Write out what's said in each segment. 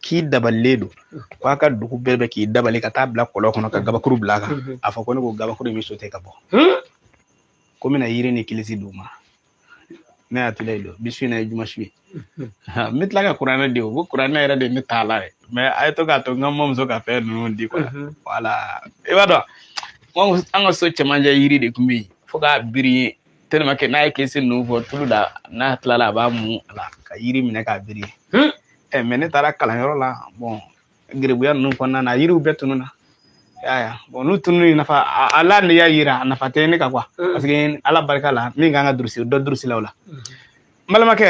k'i dabalilen don ko a ka dugu bɛɛ bɛ k'i dabali ka taa bila kɔlɔn kɔnɔ ka gabakuru bila a kan mhm. a fɔ ko ne ko gabakuru in bɛ sauter ka bɔ hmm? ko n bɛna yiri ni kilisi d'u ma ne y'a tila don bi su in na ye jumasu ye mhm. n bɛ tila ka kuranɛ di o ko kuranɛ yɛrɛ de ye ne t'a la dɛ mais a ye to k'a to n ka mamuso ka fɛn ninnu di quoi mhm. voilà i b'a dɔn an ka so cɛmancɛ yiri de tun bɛ yen fo k'a biri yen tellement que n'a ye kilisi ninnu fɔ tulu la n'a tilala a b'a mun a la ka yiri minɛ k'a biri yen hmm? ɛ mais ne taara kalanyɔrɔ la bon geribuya ninnu kɔnɔna na yiriw bɛɛ tununna yaya bon n'u tununni nafa ala ne y'a yira a nafa tɛ ne kan quoi mm. parce que ala barika la min kan ka durusi dɔ durusilaw la n mm-hmm. balimakɛ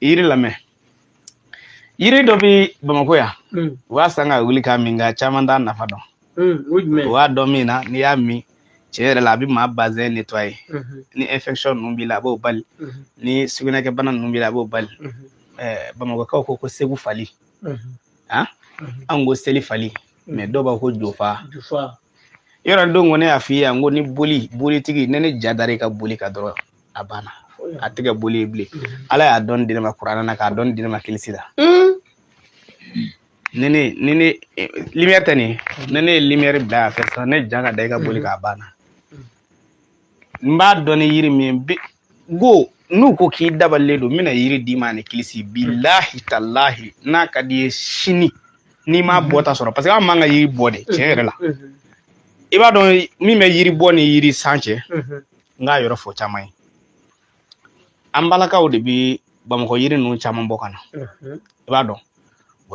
yiri lamɛn yiri dɔ bi bamakɔ yan mm. u b'a san ka wuli k'a min nka caman t'a nafa dɔn Mm, o jumɛn? O b'a dɔn min na n'i y'a min tiɲɛ yɛrɛ la a bɛ maa bazɛn nettoyer mhm. ni infection ninnu b'i la a b'o bali mhm. ni sugunɛkɛbana ninnu b'i la a b'o bali mhm. eh, bamakɔkaw ko ko segu fali ah? anw ko seli fali mais dɔw b'a ko jofa yɔrɔ don ko ne y'a f'i ye yan ko ni boli bolitigi ne ne ja dara i ka boli kan dɔrɔn a banna a tɛ kɛ boli ye bilen ala y'a dɔn di ne ma kuranɛ na k'a dɔn di ne ma kilisi la ni ne ni ne eh, lumière tɛ nin ye ni ne ye lumière bila yan fɛ sisan ne ja ka da i ka boli kan a banna n b'a dɔn ni yiri min ye bi go n'u ko k'i dabalilen don n bɛna yiri d'i ma ani kilisi bilahi talahi n'a ka d'i ye sini n'i m'a bɔ ta sɔrɔ parce que an man ka yiri bɔ de tiɲɛ yɛrɛ la i b'a dɔn min bɛ yiri bɔ ni yiri san cɛ n k'a yɔrɔ fɔ caman ye an balakaw de bɛ bamakɔ yiri ninnu caman bɔ ka na i b'a dɔn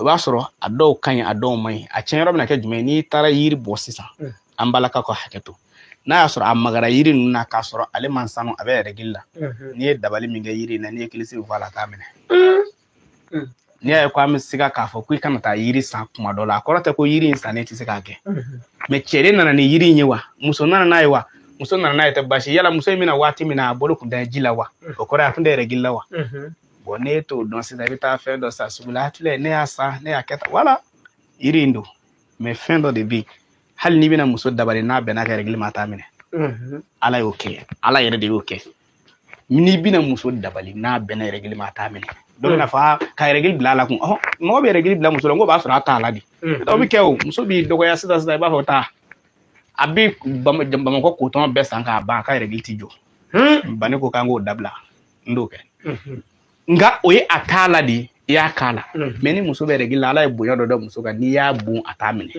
i b'a sɔrɔ a dɔw ka ɲi a dɔw man ɲi a tiɲɛ yɔrɔ bɛna kɛ jumɛn n'i taara yiri bɔ sisan an balakaw ka hakɛ to n'a y'a sɔrɔ a magara yiri ninnu na k'a sɔrɔ ale man sanu a bɛ règle la n'i ye dabali min kɛ yiri in na n'i ye kilisi fɔ a la a t'a minɛ mm. n'i y'a ye ko an bɛ se ka k'a fɔ ko i kana taa yiri san kuma dɔ la a kɔrɔ tɛ ko yiri in sannen tɛ se k'a kɛ mm-hmm. mais cɛ de nana ni yiri in ye wa muso nana n'a ye wa muso nana n'a ye tɛ basi yala muso in bɛ na waati min na a bolo tun tɛ ji la wa mm. o kɔrɔ ye a tun tɛ règle la wa mm-hmm. bon ne t'o dɔn sisan i bɛ taa fɛn dɔ san sugu la hakili la ne y'a san ne y'a kɛ tan wala yiri in don mais fɛn dɔ de bɛ yen hali n'i bɛna muso dabali n'a bɛnna a ka règle ma a t'a minɛ mm-hmm. ala y'o kɛ ala yɛrɛ de y'o kɛ n'i bɛna muso dabali n'a bɛnna règle ma a t'a minɛ dɔ bɛna fɔ aa ka règle bila a la kun ɔhɔn mɔgɔ bɛ règle bila muso la n ko b'a sɔrɔ a t'a la de dɔ bɛ kɛ o muso b'i dɔgɔya sisan sisan i b'a fɔ taa a bɛ Bama- bamakɔ coton bɛɛ san k'a ban a ka règle ti jɔ bani ko k'an k'o dabila n t'o kɛ nka o ye a t'a la de i y'a k'a la mais ni muso bɛ règle la ala ye bonya dɔ da muso kan n'i y'a bon a t'a minɛ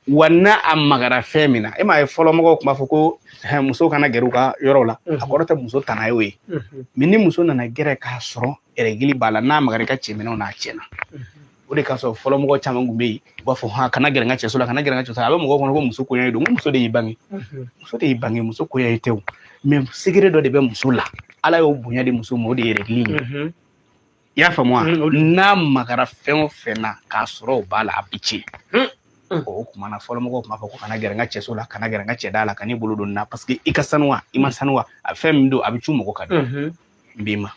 wa n'a a magara fɛn min na e m'a ye fɔlɔ mɔgɔw tun b'a fɔ ko muso kana gɛrɛ u ka yɔrɔw la a kɔrɔ tɛ muso tana y'o ye mais ni muso nana gɛrɛ k'a sɔrɔ règle b'a la n'a magara i ka cɛminɛnw na a tiɲɛna o de ka sɔrɔ fɔlɔ mɔgɔ caman kun bɛ yen u b'a fɔ ha kana gɛrɛ n ka cɛso la kana gɛrɛ n ka cɛso la a bɛ mɔgɔ kɔnɔ ko muso koniya don ko muso de y'i bange muso de y'i bange muso koniya tɛ o mais secret dɔ de bɛ muso la ala y'o bonya di muso ma o de ye règles ye i y'a faamu wa n'a magara fɛn o fɛn na k'a sɔrɔ o b'a la a bɛ tiɲɛ o kuma na fɔlɔ mɔgɔw tun b'a fɔ ko kana gɛrɛ n ka cɛso la kana gɛrɛ n ka cɛda la kan'i bolo don na parce que i ka sanuwa i ma sanuwa a fɛn min don a bɛ cu mɔgɔ ka di n b'i ma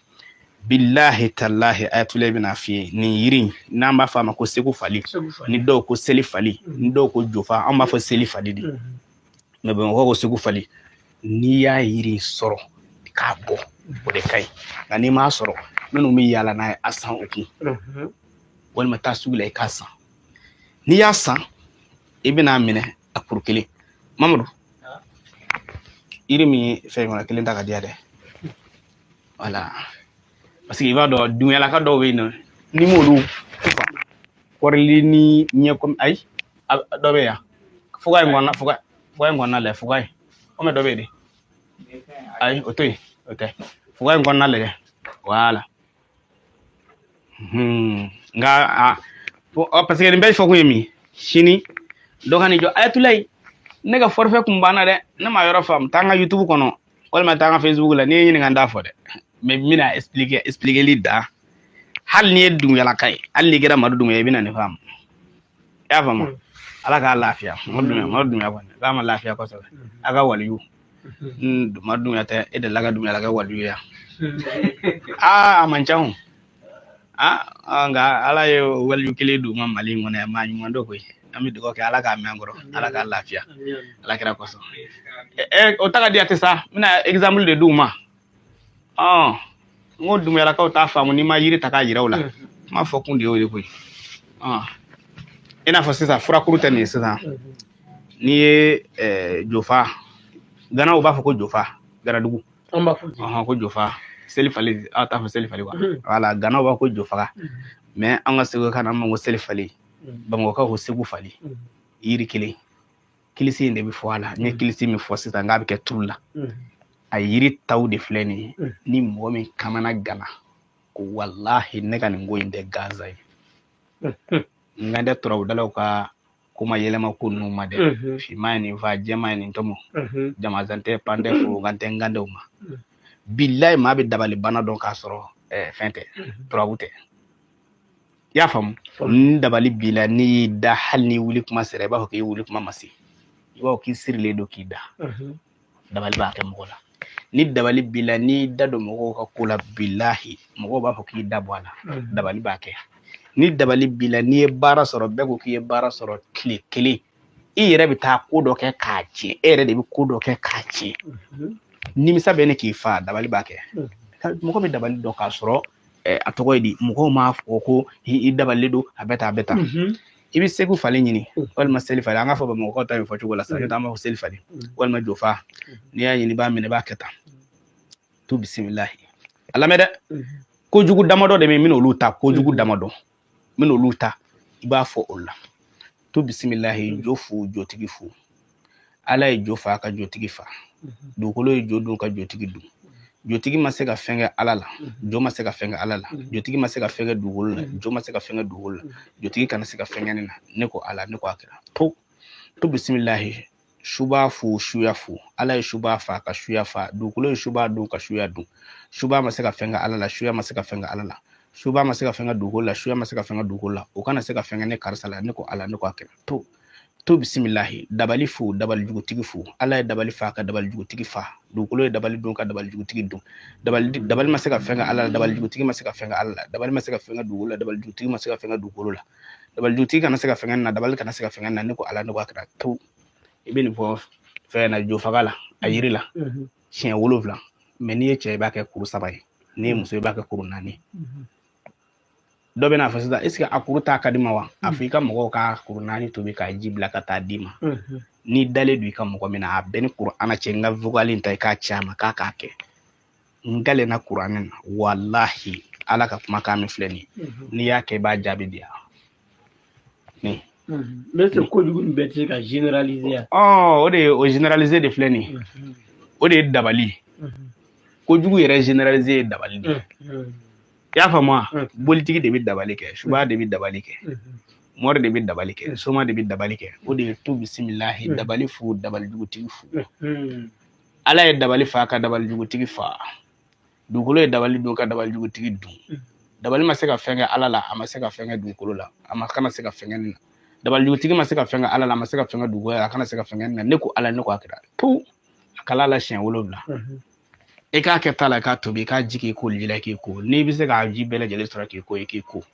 bilahi talahi ayatula i bɛn'a f'i ye nin yiri n'an b'a fɔ a ma ko segu fali ni dɔw ko seli fali ni dɔw ko jofa an b'a fɔ seli fali de mais bamakɔ ko segu fali n'i y'a yiri sɔrɔ i k'a bɔ o de ka ɲi nka n'i m'a sɔrɔ minnu bɛ yaala n'a ye a san u kun walima taa sugu la i k'a san n'i y'a san i bɛn'a minɛ a kuru kelen mamadu yiri min ye fɛn kɔnɔ kelen ta ka diya dɛ voilà parce que i b'a dɔn dumuyalaka dɔw bɛ yen nɔ n'i m'olu kɔrili ni ɲɛ kɔmi ayi dɔ bɛ yan fuga in kɔnɔna fuga fuga in kɔnɔna lajɛ fuga in kɔmi dɔ bɛ yen de ayi o to yen o tɛ fuga in kɔnɔna lajɛ voilà Hmm. Nga a ah, parce que nin bɛɛ fɔ kun ye min sini dɔ kan'i jɔ ayatulayi ne ka forfait kun banna dɛ ne m'a yɔrɔ faamu taa n ka youtube kɔnɔ walima taa n ka facebook la n'i ye n ɲininka n t'a fɔ dɛ mais n bɛna expliquer expliqueli da hali n'i ye dumuyalaka ye hali n'i kɛra madu dumuya i bɛna nin faamu i y'a faamu ala k'a lafiya madu dumuya madu dumuya kɔni k'a ma lafiya kosɛbɛ a ka waliyu madu dumuya tɛ e delila ka dumuyalaka waliyu ye aa a man ca aa nka ala ye waliyu kelen d'u ma mali in kɔnɔ yan maa ɲuman don koyi an bɛ dugawu kɛ ala k'a mɛn an kɔrɔ ala k'a lafiya ala kira kosɔn o ta ka di a tɛ sa n bɛna exemple de d'u ma ɔn n ko dumuyalakaw t'a faamu n'i ma yiri ta k'a yira u la n m'a fɔ kun de y'o ye koyi ɔn i n'a fɔ sisan furakuru tɛ nin ye sisan n'i ye eh, jofa ganaw b'a fɔ ko jofa ganadugu an b'a fɔ ten. ɔhɔn ko jofa seli fali aw t'a fɔ seli fali wa Mhm. voilà ganaw b'a fɔ ko jofaga Mhm. mais an ka segu kan na an b'a fɔ ko seli fali Mhm. bamakɔkaw ko segu fali Mhm. yiri kelen kilisi in de bɛ fɔ a la n ye kilisi min fɔ sisan nka a bɛ kɛ turu la a yiri taw de filɛ nin ye ni mɔgɔ min kamanagana ko walahi ne ka nin ko in tɛ gansan ye n ka dɛ turabudalaw ka kuma yɛlɛma ko ninnu ma dɛ finman ye nin fa jɛman ye nin tɔmɔ jamazan tɛ pan tɛ forokan tɛ n ka dɛw ma bilayi maa bɛ dabali bana dɔn k'a sɔrɔ fɛn tɛ turabu tɛ i y'a faamu ni dabali b'i la n'i y'i da hali n'i wuli kuma sera i b'a fɔ k'i wuli kuma ma se i b'a fɔ k'i sirilen don k'i da dabali b'a kɛ mɔgɔ la ni dabali b'i la n'i da don mɔgɔw ka ko la bilahi mɔgɔw b'a fɔ k'i da bɔ a la dabali b'a kɛ ni dabali b'i la n'i ye baara sɔrɔ bɛɛ ko k'i ye baara sɔrɔ tile kelen i yɛrɛ bɛ taa ko dɔ kɛ k'a tiɲɛ e yɛrɛ de bɛ ko dɔ kɛ k'a tiɲɛ nimisa bɛ na k'i fa dabali b'a kɛ mɔgɔ bɛ dabali dɔn k'a sɔrɔ a tɔgɔ ye di mɔgɔw m'a fɔ ko i dabalilen don a bɛ taa a bɛ taa mhm. i bɛ segu fali ɲini mm. walima seli fali an k'a fɔ bamakɔkaw ta nin fɔ cogo la sa an b'a fɔ seli fali mm. walima jofa mm. n'i y'a ɲini i b'a minɛ i b'a kɛ tan tu bisimilahi a lamɛn dɛ kojugu damadɔ de bɛ yen n bɛna olu ta kojugu damadɔ n bɛna olu ta i b'a fɔ o la tu bisimilahi jo fu jotigi fu ala ye jo fa ka jotigi fa dugukolo ye jo dun ka jotigi dun jotigi ma se ka fɛn kɛ ala la jo ma se ka fɛn kɛ ala la jotigi ma se ka fɛn kɛ dugukolo la jo ma se ka fɛn kɛ dugukolo la jotigi kana se ka fɛn kɛ ne na ne ko ala ne ko a kira tu tu bisimilahi suba fu suya fu ala ye suba fa ka suya fa dugukolo ye suba dun ka suya dun suba ma se ka fɛn kɛ ala la suya ma se ka fɛn kɛ ala la suba ma se ka fɛn kɛ dugukolo la suya ma se ka fɛn kɛ dugukolo la o kana se ka fɛn kɛ ne karisa la ne ko ala ne ko a kira tu tu bisimilahi dabali fu dabali jugutigi fu ala ye dabali fa ka dabali jugutigi fa dugukolo ye dabali dun ka dabali jugutigi dun dabali dabali ma se ka fɛn kɛ ala la dabali jugutigi ma se ka fɛn kɛ ala la dabali ma se ka fɛn kɛ dugukolo la dabali jugutigi ma se ka fɛn kɛ dugukolo la dabali jugutigi kana se ka fɛn kɛ n na dabali kana se ka fɛn kɛ n na ne ko ala ne ko a kira tu i bɛ nin fɔ fɛn na jofaga la a yiri la siɲɛ wolonwula mɛ n'i ye cɛ i b'a kɛ kuru saba ye n'i ye muso i b'a kɛ kuru naani dɔ bɛn'a fɔ sisan eseke a kuru ta ka di n ma wa a fɔ i ka mɔgɔw ka kuru naani tobi k'a ji bila ka taa d'i ma n'i dalen don i ka mɔgɔ min na a b'i ni kuranɛ cɛ n ka vocal in ta i k'a ci a ma k'a k'a kɛ n kalenna kuranɛ na walahi ala ka kumakan min filɛ nin ye mhm. n'i y'a kɛ i b'a jaabi di yan nin ne tɛ kojugu nin bɛɛ tɛ se ka generaliser yan o de ye o generaliser de filɛ nin ye mhm. o de ye dabali mhm. kojugu yɛrɛ generaliser ye dabali de ye i y'a faamu wa bolitigi de bɛ dabali kɛ suba de bɛ dabali kɛ mɔri de bɛ dabali kɛ soma de bɛ dabali kɛ o de ye tu bisimilahi dabali fu dabali jugutigi fu ala ye dabali fa ka dabali jugutigi fa dugukolo ye dabali dun ka dabali jugutigi dun mm. dabali ma se ka fɛn kɛ ala la a ma se ka fɛn kɛ dugukolo la a ma kana se ka fɛn kɛ ne na dabali jugutigi ma se ka fɛn kɛ ala la a ma se ka fɛn kɛ dugukolo la a kana se ka fɛn kɛ ne na ne ko ala ne ko a kira pewu a kala la siɲɛ wolonwula mm-hmm. i k'a kɛ ta la k'a tobi k'a ji k'i koji la k'i ko n'i bɛ se k'a ji bɛɛ lajɛlen sɔrɔ k'i ko i k'i ko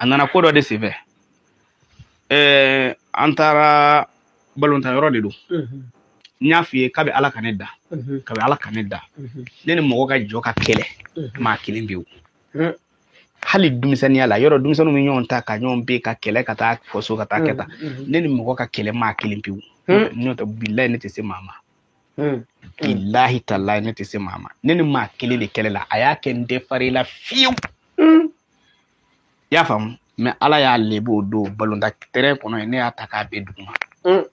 a nana ko dɔ de senfɛ an taara balontan yɔrɔ de don n y'a f'i ye kabi ala ka ne da kabi ala ka ne da ne ni mɔgɔ ka jɔ ka kɛlɛ maa kelen pewu hali denmisɛnninya la yɔrɔ denmisɛnninw bɛ ɲɔgɔn ta ka ɲɔgɔn bin ka kɛlɛ ka taa fɔ so ka taa kɛ tan ne ni mɔgɔ ka kɛlɛ maa kelen pewu n'o tɛ bilayi ne tɛ se maa ma Hmm. Bilayi talayi ne tɛ se maa ma ne ni maa kelen de kɛlɛ la a y'a kɛ n tɛ far'a la fiyewu hmm. i y'a faamu mɛ ala y'a lebu o don balontan tɛrɛn kɔnɔ yen ne y'a ta k'a bin duguma hmm.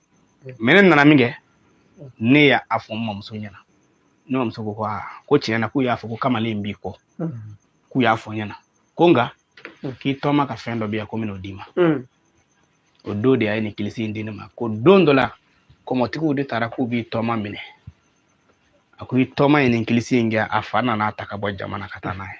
mɛ ne nana min kɛ ne y'a a fɔ n mamuso ɲɛna ne mamuso ko ko aa ko tiɲɛ na k'u y'a fɔ ko kamalen b'i kɔ k'u y'a fɔ n ɲɛna ko nka k'i tɔma ka fɛn dɔ bɛ yan ko n bɛn'o d'i ma o don de a ye nin kilisi in di ne ma ko don dɔ la kɔmɔtigiw de taara k'u b'i tɔma minɛ a ko i tɔma ye nin kilisi in kɛ a fa nana a ta ka bɔ jamana ka taa n'a ye